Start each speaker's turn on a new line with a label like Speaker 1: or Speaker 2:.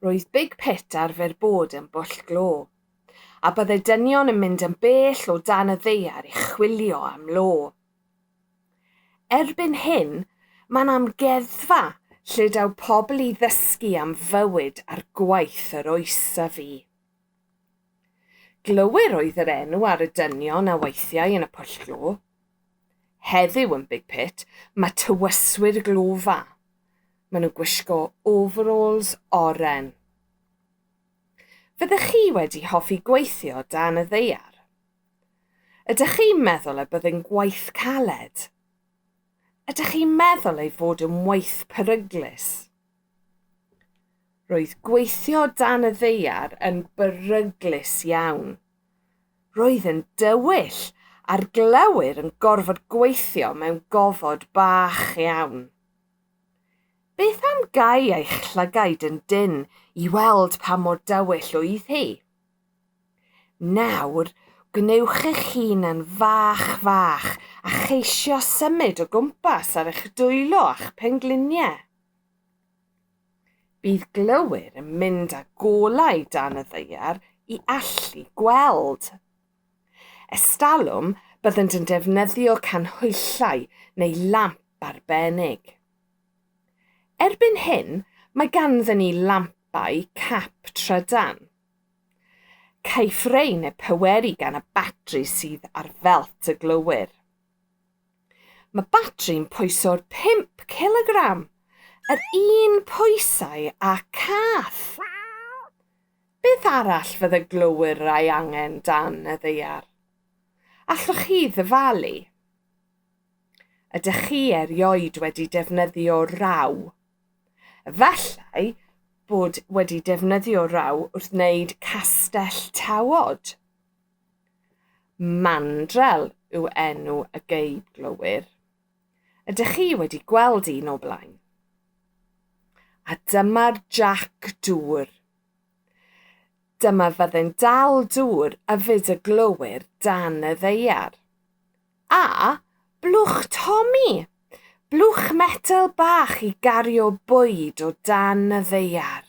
Speaker 1: Roedd Big Pit arfer bod yn bwll glo, a byddai dynion yn mynd yn bell o dan y ddaear i chwilio am lo. Erbyn hyn, mae'n amgueddfa lle daw pobl i ddysgu am fywyd a'r gwaith yr oes a fu. Glowyr oedd yr enw ar y dynion a weithiai yn y pwll glo. Heddiw yn Big Pit, mae tywyswyr glofa. Maen nhw'n gwisgo overalls oren. Fyddech chi wedi hoffi gweithio dan y ddeiar? Ydych chi'n meddwl y byddai'n gwaith caled? Ydych chi'n meddwl ei fod yn waith peryglus? Roedd gweithio dan y ddeiar yn beryglus iawn. Roedd yn dywyll a'r glowyr yn gorfod gweithio mewn gofod bach iawn. Beth am gau eich llygaid yn dynn i weld pa mor dywyll oedd hi? Nawr, gwnewch eich hun yn fach fach a cheisio symud o gwmpas ar eich dwylo a'ch pengliniau. Bydd glowyr yn mynd â golau dan y ddaear i allu gweld. Estalwm, byddent yn defnyddio canhwyllau neu lamp arbennig. Erbyn hyn, mae ganddyn ni lampau cap trydan. Caiff rein eu pweru gan y batri sydd ar felt y glowyr. Mae batri'n pwyso'r 5 cilogram, yr un pwysau â cath! Beth arall fydde glowyr ei angen dan y ddaear? Allwch chi ddyfalu? Ydych chi erioed wedi defnyddio raw? Efallai bod wedi defnyddio raw wrth wneud castell tawod. Mandrel yw enw y geib glowyr. Ydych chi wedi gweld un o blaen? A dyma'r Jac Dŵr. Dyma fyddin dal dŵr a fyd y glowyr dan y ddeiar. A, blwch Tommy! Blwch metel bach i gario bwyd o dan y ddeiar.